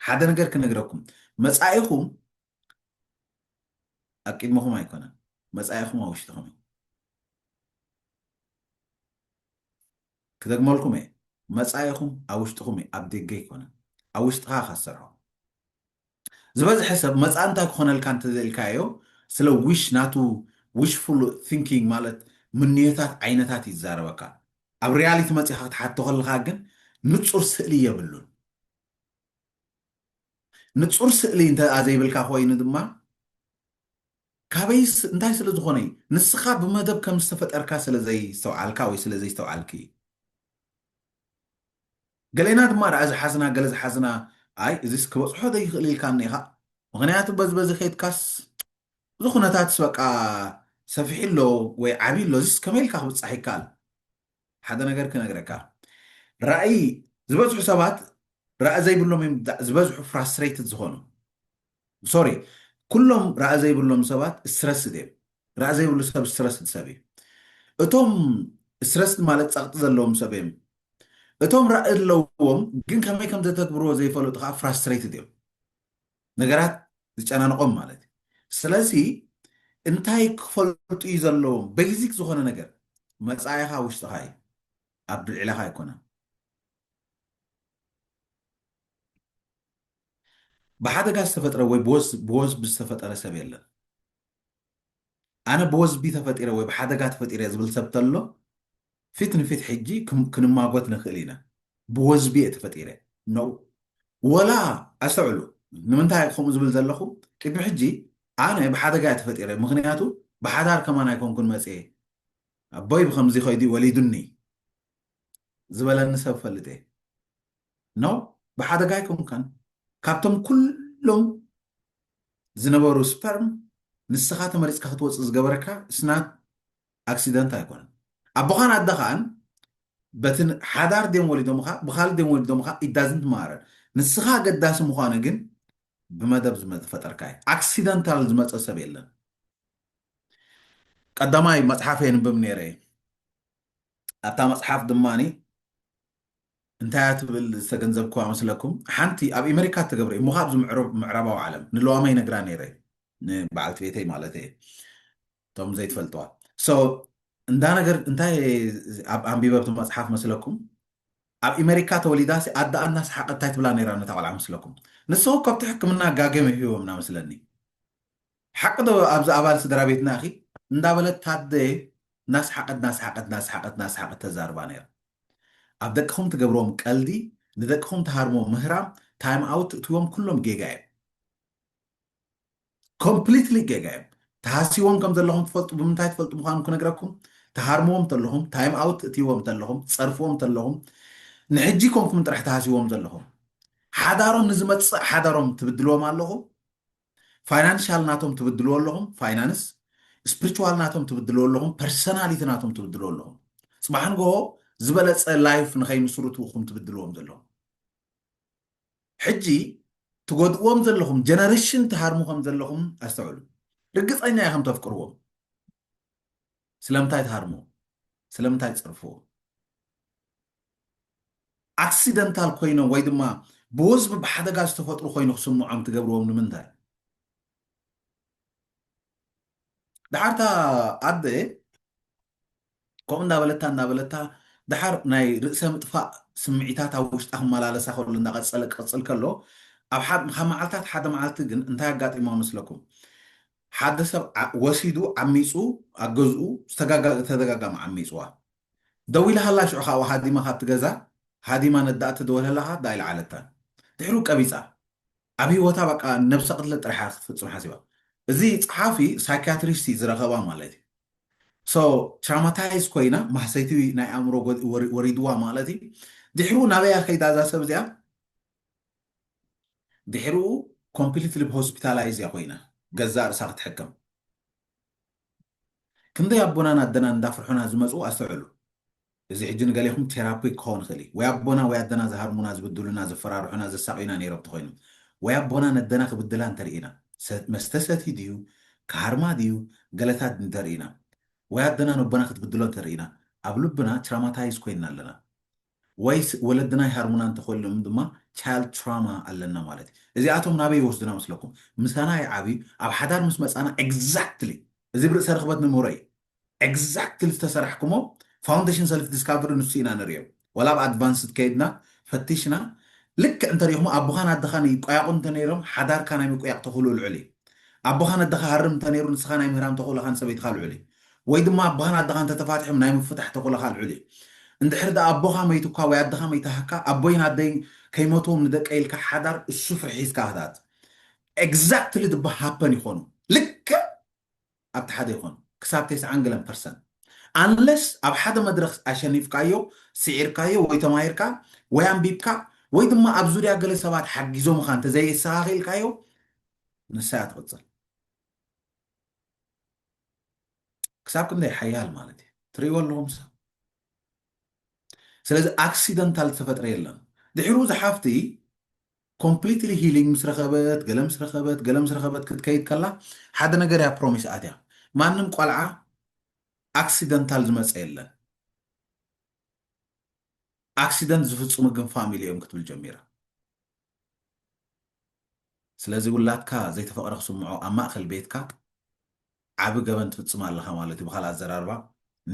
ሓደ ነገር ክነግረኩም መጻኢኹም ኣብ ቅድመኹም ኣይኮነን መጻኢኹም ኣብ ውሽጥኹም እዩ ክደግመልኩም እየ መጻኢኹም ኣብ ውሽጥኹም እዩ ኣብ ደገ ኣይኮነን ኣብ ውሽጥኻ ካሰርሖ ዝበዝሐ ሰብ መጻኢ እንታይ ክኾነልካ እንተዘልካዮ ስለ ዊሽ ናቱ ዊሽፉል ቲንኪንግ ማለት ምንዮታት ዓይነታት ይዛረበካ ኣብ ሪያሊቲ መፂኻ ክትሓቶ ከለካ ግን ንፁር ስእሊ የብሉን ንጹር ስእሊ እንተ ዘይብልካ ኮይኑ ድማ ካበይስ እንታይ ስለ ዝኾነ እዩ? ንስኻ ብመደብ ከም ዝተፈጠርካ ስለ ዘይስተውዓልካ ወይ ስለ ዘይስተውዓልኪ እዩ። ገሌና ድማ ደኣ ዝሓዝና ገለ ዝሓዝና ኣይ እዚስ ክበጽሖ ዘይኽእል ኢልካ እኒኢኻ ምኽንያቱ በዚ በዚ ኬድካስ እዚ ኩነታትስ በቃ ሰፊሑ ኣሎ ወይ ዓብዩ ኣሎ እዚስ ከመይ ኢልካ ክብጻሕ ይከኣል ሓደ ነገር ክነግረካ ራእይ ዝበዝሑ ሰባት ራእይ ዘይብሎም እዮም ዝበዝሑ ፍራስትሬትድ ዝኾኑ ሶሪ ኩሎም ራእይ ዘይብሎም ሰባት ስትረስድ እዮም ራእይ ዘይብሉ ሰብ ስትረስድ ሰብ እዩ እቶም ስትረስድ ማለት ፀቕጢ ዘለዎም ሰብ እዮም እቶም ራእይ ኣለዎም ግን ከመይ ከም ዘተግብርዎ ዘይፈለጡ ከዓ ፍራስትሬትድ እዮም ነገራት ዝጨናንቆም ማለት እዩ ስለዚ እንታይ ክፈልጡ እዩ ዘለዎም ቤዚክ ዝኾነ ነገር መፃኢኻ ውሽጥኻ እዩ ኣብ ብልዕላኻ ኣይኮነን ብሓደጋ ዝተፈጥረ ወይ ብወስ ብዝተፈጠረ ሰብ የለን ኣነ ብወዝቢ ተፈጢረ ወይ ብሓደጋ ተፈጢረ ዝብል ሰብ ተሎ ፊት ንፊት ሕጂ ክንማጎት ንክእል ኢና ብወዝቢ እየ ተፈጢረ ነው ወላ ኣስተውዕሉ ንምንታይ ከምኡ ዝብል ዘለኹ ቅድሚ ሕጂ ኣነ ብሓደጋ እየ ተፈጢረ ምክንያቱ ብሓዳር ከማን ኣይኮንኩን መፅየ ኣቦይ ብከምዚ ከይዱ ወሊዱኒ ዝበለኒ ሰብ ፈልጥ እየ ነው ብሓደጋ ኣይኮንካን ካብቶም ኩሎም ዝነበሩ ስፐርም ንስኻ ተመሪጽካ ክትወጽእ ዝገበረካ it's not accident ኣይኮነን ኣቦኻን ኣደኻን በቲ ሓዳር ድዮም ወሊዶምኻ ብካልእ ድዮም ወሊዶምኻ it doesn't matter ንስኻ ኣገዳሲ ምዃኑ ግን ብመደብ ዝፈጠርካ እዩ ኣክሲደንታል ዝመፀ ሰብ የለን ቀዳማይ መፅሓፍ የንብብ ነይረ ኣብታ መፅሓፍ ድማኒ እንታይ እያ ትብል ዝተገንዘብክዋ መስለኩም ሓንቲ ኣብ ኤመሪካ እተገብረ እሞ ከኣ ኣብዚ ምዕራባዊ ዓለም ንለዋማ ይነግራ ነይረ ንበዓልቲ ቤተይ ማለት እየ እቶም ዘይትፈልጥዋ ሶ እንዳ ነገር እንታይ ኣብ ኣንቢበብቲ መፅሓፍ መስለኩም ኣብ ኤመሪካ ተወሊዳ ሲ ኣደኣ እናሰሓቐት እንታይ ትብላ ነይራ ነታ ቆልዓ መስለኩም ንስኹ ከብቲ ሕክምና ጋገም ሂቦምና መስለኒ ሓቂ ዶ ኣዚ ኣባል ስድራቤትና ኢኺ እንዳበለት ታደ ናስሓቀት ናስሓቀት ናስሓቀት ናስሓቀት ተዛርባ ነይራ ኣብ ደቅኹም ትገብርዎም ቀልዲ ንደቅኹም ትሃርምዎ ምህራም ታይም ኣውት ትእትዎም ኩሎም ጌጋ እዮም ኮምፕሊትሊ ጌጋ እዮም ተሃሲዎም ከም ዘለኹም ትፈልጡ ብምንታይ ትፈልጡ ምዃኑ ክነግረኩም ትሃርምዎም ተለኹም ታይም ኣውት ትእትይዎም ተለኹም ትጸርፍዎም ተለኹም ንሕጂ ኮንኩም ጥራሕ ተሃሲዎም ዘለኹም ሓዳሮም ንዝመጽእ ሓዳሮም ትብድልዎም ኣለኹም ፋይናንሻል ናቶም ትብድልዎ ኣለኹም ፋይናንስ ስፕሪቹዋል ናቶም ትብድልዎ ኣለኹም ፐርሰናሊቲ ናቶም ትብድልዎ ኣለኹም ፅባሕ ንግሆ ዝበለፀ ላይፍ ንኸይምስርቱ እኹም ትብድልዎም ዘለኹም ሕጂ ትጎድእዎም ዘለኹም ጀነሬሽን ትሃርሙ ከም ዘለኹም ኣስተውዕሉ ርግፀኛ ኢኹም ተፍቅርዎም ስለምንታይ ትሃርምዎ ስለምንታይ ትፀርፍዎ ኣክሲደንታል ኮይኖም ወይ ድማ ብወዝቢ ብሓደጋ ዝተፈጥሩ ኮይኑ ክስምዖም ትገብርዎም ንምንታይ ድሓር እታ ኣደ ከምኡ እንዳበለታ እንዳበለታ ድሓር ናይ ርእሰ ምጥፋእ ስምዒታት ኣብ ውሽጣ ክመላለሳ ከሎ እንዳቀፀለ ክቅፅል ከሎ ኣብ ካብ መዓልታት ሓደ መዓልቲ ግን እንታይ ኣጋጢሞ መስለኩም ሓደ ሰብ ወሲዱ ዓሚፁ ኣብ ገዝኡ ተደጋጋሚ ዓሚፅዋ ደዊላሃላ ሽዑ ካኣ ሃዲማ ካብቲ ገዛ ሃዲማ ነዳኣ ትድወለላ ካኣ ዳኣይልዓለታን ድሕሩ ቀቢጻ ኣብ ሂወታ በቃ ነብሰ ቅትለት ጥራሕ እያ ክትፍጽም ሓሲባ እዚ ጸሓፊ ሳይካትሪስት እዩ ዝረከባ ማለት እዩ so ትራማታይዝ ኮይና ማህሰይቲ ናይ ኣእምሮ ወሪድዋ ማለት እዩ ድሕሩ ናበይ እያ ከይዳ እዛ ሰብ እዚኣ ድሕሩ ኮምፕሊትሊ ሆስፒታላይዝ እያ ኮይና ገዛእ ርእሳ ክትሕከም ክንደይ ኣቦናን ኣደናን እንዳፍርሑና ዝመጹ ኣስተውዕሉ እዚ ሕጂ ንገሌኹም ቴራፒ ክኸውን ይኽእል እዩ ወይ ኣቦና ወይ ኣደና ዝሃርሙና ዝብድሉና ዘፈራርሑና ዘሳቅዩና ኔሮም ተኾይኑ ወይ ኣቦና ነደና ክብድላ እንተርኢና መስተ ሰትዩ ድዩ ክሃርማ ድዩ ገለታት እንተርኢና ወይ ኣደና ነቦና ክትብድሎ እንተርኢና ኣብ ልብና ትራማታይዝ ኮይንና ኣለና ወይስ ወለድና ይሃርሙና እንተኾይኖም ድማ ቻይልድ ትራማ ኣለና ማለት እዩ። እዚኣቶም ናበይ ይወስዱና መስለኩም? ምሳና ይዓብዩ፣ ኣብ ሓዳር ምስ መጻና ኤግዛክትሊ እዚ ብ ርእሰ ርኽበት ንምህሮ እዩ። ኤግዛክትሊ ዝተሰራሕኩሞ ፋውንደሽን ሰልፍ ዲስካቨሪ ንሱ ኢና ንርእዮ። ዋላ ኣብ ኣድቫንስድ ከይድና ፈቲሽና ልክዕ እንተሪእኹሞ ኣቦኻን ኣደኻን ይቆያቑ እንተነይሮም ሓዳርካ ናይ ምቁያቕ ተኽእልኡ ልዑል እዩ። ኣቦኻን ኣደኻ ሃርም እንተነይሩ ንስኻ ናይ ምህራም ተኽእሎኻን ሰበይትኻ ልዑል እዩ። ወይ ድማ ኣቦኻን ኣደኻን እንተተፋቲሖም ናይ ምፍታሕ ተኽእሎኻ ልዑል እዩ። እንድሕሪ ድኣ ኣቦኻ መይቱካ ወይ ኣደኻ መይታህካ ኣቦይን ኣደይን ከይመትዎም ንደቀይ ኢልካ ሓዳር እሱ ፍርሒ ሒዝካ ክትኣት ኤግዛክትሊ ድባ ሃፐን ይኾኑ ልክዕ ኣብቲ ሓደ ይኾኑ ክሳብ ቴስዓን ገለን ፐርሰንት ኣንለስ ኣብ ሓደ መድረኽ ኣሸኒፍካዮ ስዒርካዮ ወይ ተማሂርካ ወይ ኣንቢብካ ወይ ድማ ኣብ ዙርያ ገለ ሰባት ሓጊዞምኻ እንተዘየስተኻኺልካዮ ንሳ እያ ትቕፅል። ክሳብ ክንደይ ሓያል ማለት እዩ ትርእይዎ ኣለኹም ሰብ ስለዚ ኣክሲደንታል ዝተፈጥረ የለን ድሕሩ ዝሓፍቲ ኮምፕሊትሊ ሂሊንግ ምስ ረኸበት ገለ ምስ ረኸበት ገለ ምስ ረኸበት ክትከይድ ከላ ሓደ ነገር እያ ፕሮሚስ ኣትያ ማንም ቆልዓ ኣክሲደንታል ዝመፀ የለን ኣክሲደንት ዝፍፅሙ ግን ፋሚሊ እዮም ክትብል ጀሚራ ስለዚ ውላድካ ዘይተፈቕደ ክስምዖ ኣብ ማእኸል ቤትካ ዓቢ ገበን ትፍጽም ኣለኻ ማለት እዩ ብኻልእ ኣዘራርባ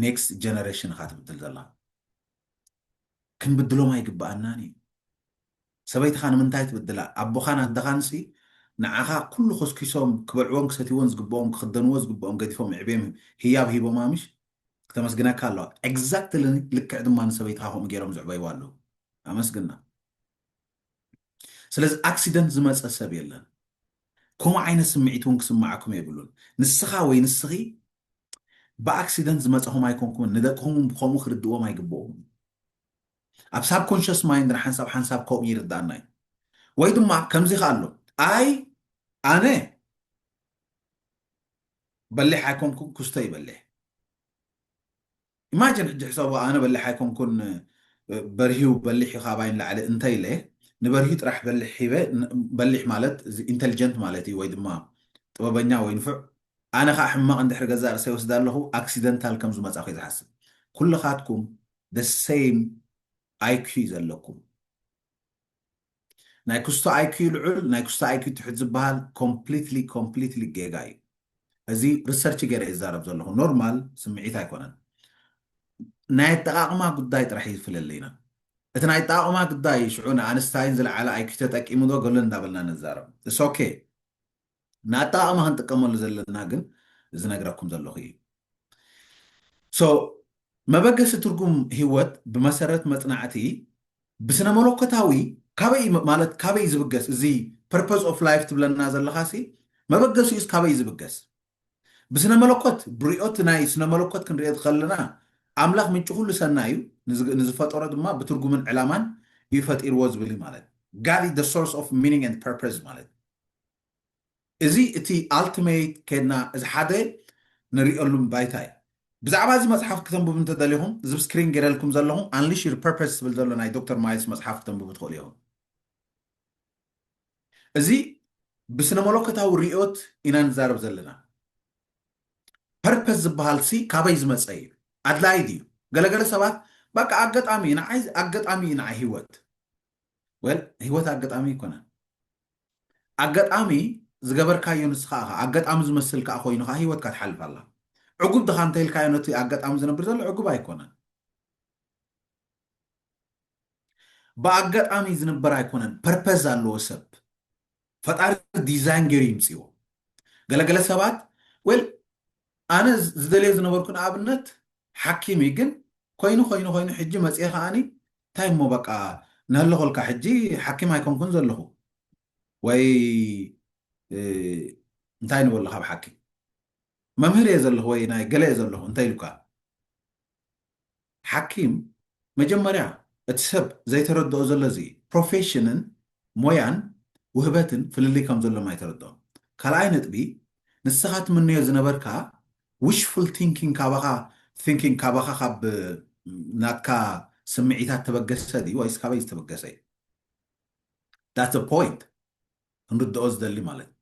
ኔክስት ጀነሬሽን እኻ ትብድል ዘለኻ ክንብድሎም ኣይግብኣናን እዩ ሰበይትኻ ንምንታይ ትብድላ ኣቦኻን ኣደኻንሲ ንዓኻ ኩሉ ኮስኪሶም ክበልዕዎን ክሰትይዎን ዝግብኦም ክኽደንዎ ዝግብኦም ገዲፎም የዕብዮም ህያብ ሂቦማ ምሽ ክተመስግነካ ኣለዋ ኤግዛክትሊ ልክዕ ድማ ንሰበይትኻ ከምኡ ገይሮም ዝዕበይዋ ኣለዉ ኣመስግና ስለዚ ኣክሲደንት ዝመጸ ሰብ የለን ከምኡ ዓይነት ስምዒት እውን ክስምዓኩም የብሉን ንስኻ ወይ ንስኺ ብኣክሲደንት ዝመጻኹም ኣይኮንኩምን ንደቅኹም ብከምኡ ክርድእዎም ኣይግብኦምን ኣብ ሳብ ኮንሽስ ማይንድ ንሓንሳብ ሓንሳብ ከምኡ ይርዳእና እዩ ወይ ድማ ከምዚ ከ ኣሎ ኣይ ኣነ በሊሕ ኣይኮንኩም ኩስተ ይበልሕ ኢማጅን ሕጂ ሕሰቦ ኣነ በሊሕ ኣይኮንኩን በርሂው በሊሕ ዩ ካባይ ንላዕሊ እንተ ኢለ ንበርሂ ጥራሕ በሊሕ ሂበ በሊሕ ማለት እዚ ኢንተልጀንት ማለት እዩ ወይ ድማ ጥበበኛ ወይ ንፉዕ ኣነ ከዓ ሕማቕ እንድሕሪ ገዛእ ርእሰይ ወስዳ ኣለኹ ኣክሲደንታል ከም ዝመጻኹ እየ ዝሓስብ ኩልኻትኩም the same IQ ዘለኩም ናይ ክስቶ ኣይክዩ ልዑል ናይ ክስቶ ኣይክዩ ትሕት ዝባሃል ኮምፕሊትሊ ኮምፕሊትሊ ጌጋ እዩ እዚ ርሰርች ገይረ እየ ዝዛረብ ዘለኹ ኖርማል ስምዒት ኣይኮነን ናይ ኣጠቓቕማ ጉዳይ ጥራሕ እዩ ዝፍለለይና እቲ ናይ ኣጠቓቕማ ጉዳይ ሽዑ ንኣንስታይን ዝለዓለ ኣይክዩ ተጠቂሙ ዶ ገሎ እንዳበልና ንዛረብ እስ ኦኬ ንኣጠቓቕማ ክንጥቀመሉ ዘለና ግን ዝነግረኩም ዘለኹ እዩ። ሶ መበገሲ ትርጉም ህይወት ብመሰረት መጽናዕቲ ብስነ መለኮታዊ ካበይ እዩ ማለት ካበይ ዝብገስ እዚ ፐርፐዝ ኦፍ ላይፍ ትብለና ዘለኻ ሲ መበገሲኡስ ካበይ ዝብገስ ብስነ መለኮት ብሪኦት ናይ ስነ መለኮት ክንሪኦ ዝኸለና ኣምላኽ ምንጪ ኩሉ ሰናይ እዩ ንዝ- ንዝፈጠሮ ድማ ብትርጉምን ዕላማን እዩ ፈጢርዎ ዝብል እዩ ማለት ጋድ ኢዝ ሶርስ ኦፍ ሚኒንግ ኤንድ ፐርፐዝ ማለት እዚ እቲ ኣልትመይት ኬድና እዚ ሓደ ንሪኦሉም ባይታ እዩ። ብዛዕባ እዚ መጽሓፍ ክተንብቡ እንተደሊኹም እዚ ብ ስክሪን ጌረልኩም ዘለኹ Unleash Your Purpose ዝብል ዘሎ ናይ ዶክተር ማይልስ መጽሓፍ ክተንብቡ ትኽእሉ ኢኹም። እዚ ብስነመሎኮታዊ ርእዮት ኢና ንዛረብ ዘለና። ፐርፐዝ ዝበሃል ሲ ካበይ ዝመጸ እዩ? ኣድላዪ ድዩ? ገለገለ ሰባት በቃ ኣገጣሚ እዩ ንዓይ ኣገጣሚ እዩ ንዓይ ሂወት። ወል ህይወት ኣገጣሚ ኣይኮነን ኣገጣሚ ዝገበርካዮ ንስኻ ኢኻ ኣገጣሚ ዝመስል ከዓ ኮይኑ ከዓ ህይወትካ ትሓልፍ ኣላ ዕጉብ ድኻ እንተኢልካዮ ነቲ ኣገጣሚ ዝነብር ዘሎ ዕጉብ ኣይኮነን ብኣገጣሚ ዝንበር ኣይኮነን ፐርፐዝ ኣለዎ ሰብ ፈጣሪ ዲዛይን ገይሩ ይምፅዎ ገለገለ ሰባት ወል ኣነ ዝደልዮ ዝነበርኩ ንኣብነት ሓኪም እዩ ግን ኮይኑ ኮይኑ ኮይኑ ሕጂ መፅኤ ከዓኒ እንታይ እሞ በቃ ንህለኾልካ ሕጂ ሓኪም ኣይኮንኩን ዘለኹ ወይ እንታይ ንበሎ ካብ ሓኪም መምህር እየ ዘለኹ ወይ ናይ ገለ እየ ዘለኹ እንታይ ኢሉካ ሓኪም መጀመርያ እቲ ሰብ ዘይተረድኦ ዘሎ እዚ እዩ። ፕሮፌሽንን ሞያን ውህበትን ፍልልይ ከም ዘሎም ኣይተረድኦን። ካልኣይ ነጥቢ ንስኻ ትምነዮ ዝነበርካ ዊሽፉል ቲንኪንግ ካባኻ ቲንኪንግ ካባኻ ካብ ናትካ ስምዒታት ተበገሰ ድዩ ወይስ ካበይ ዝተበገሰ እዩ? ዳትስ ዘ ፖይንት ክንርድኦ ዝደሊ ማለት እዩ።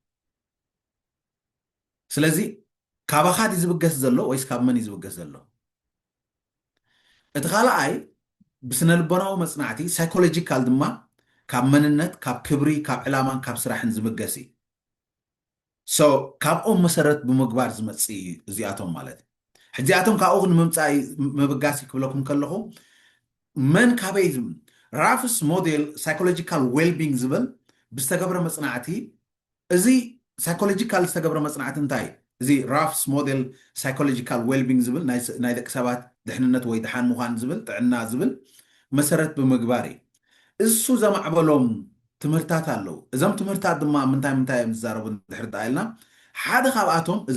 ስለዚ ካባኻ ድዩ ዝብገስ ዘሎ ወይስ ካብ መን እዩ ዝብገስ ዘሎ? እቲ ካልኣይ ብስነልቦናዊ መጽናዕቲ ሳይኮሎጂካል ድማ ካብ መንነት፣ ካብ ክብሪ፣ ካብ ዕላማን ካብ ስራሕን ዝብገስ እዩ። ሶ ካብኦም መሰረት ብምግባር ዝመጽእ እዩ እዚኣቶም ማለት እዩ። ሕጂ ኣቶም ካብኡ ንምምጻእ ምብጋስ እዩ ክብለኩም ከለኹ መን ካበይ ራፍስ ሞዴል ሳይኮሎጂካል ዌልቢንግ ዝብል ብዝተገብረ መጽናዕቲ እዚ ሳይኮሎጂካል ዝተገብረ መጽናዕቲ እንታይ እዩ? እዚ ራፍስ ሞዴል ሳይኮሎጂካል ዌልቢንግ ዝብል ናይ ደቂ ሰባት ድሕንነት ወይ ደሓን ምዃን ዝብል ጥዕና ዝብል መሰረት ብምግባር እዩ። እሱ ዘማዕበሎም ትምህርታት ኣለዉ። እዞም ትምህርታት ድማ ምንታይ ምንታይ እዮም ዝዛረቡ እንድሕር ደኣ ኢልና ሓደ ካብኣቶም እዚ